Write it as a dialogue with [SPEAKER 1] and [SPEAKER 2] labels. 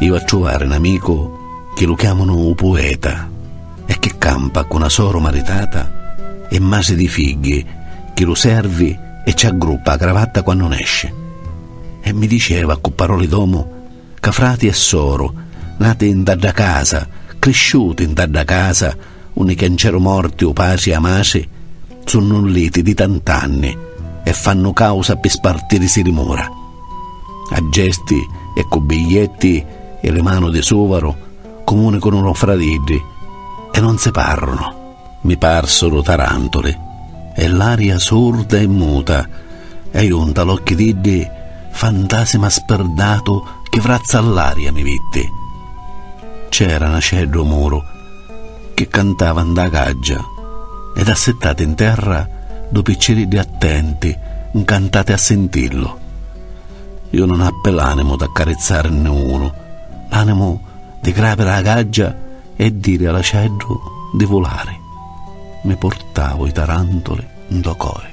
[SPEAKER 1] Iu a truvari n'amicu chi lu chiamanu u pueta e chi campa cu na soru maritata e masi di figghi chi lu servi e ci aggruppa a cravatta quannu nesci e mi diceva cu paroli d'omu ca frati e soru nati nta dda casa crisciuti nta dda casa Unni ch'è nceru morti u pasi e a masi sunnu nliti di tant'anni e fannu causa pi spartirisi li mura. A gesti e cu biglietti i li manu di suvaru cumunicunu lu fra d'iddi e non si parrunu. Mi parsuru tarantuli e l'aria surda e muta e ju nta l'occhi d'iddi fantasima spirdatu chi vrazza all'aria mi vitti. C'era n'aceddu u muru chi cantava 'nda gaggia ed assittati in terra du picciriddi attenti 'ncantati a sintillu iu non appi l'animu d'accarizzarinni unu l'animu di grapiri a gaggia e diri a l'acieddu di vulari mi purtau i tarantuli 'ndo cori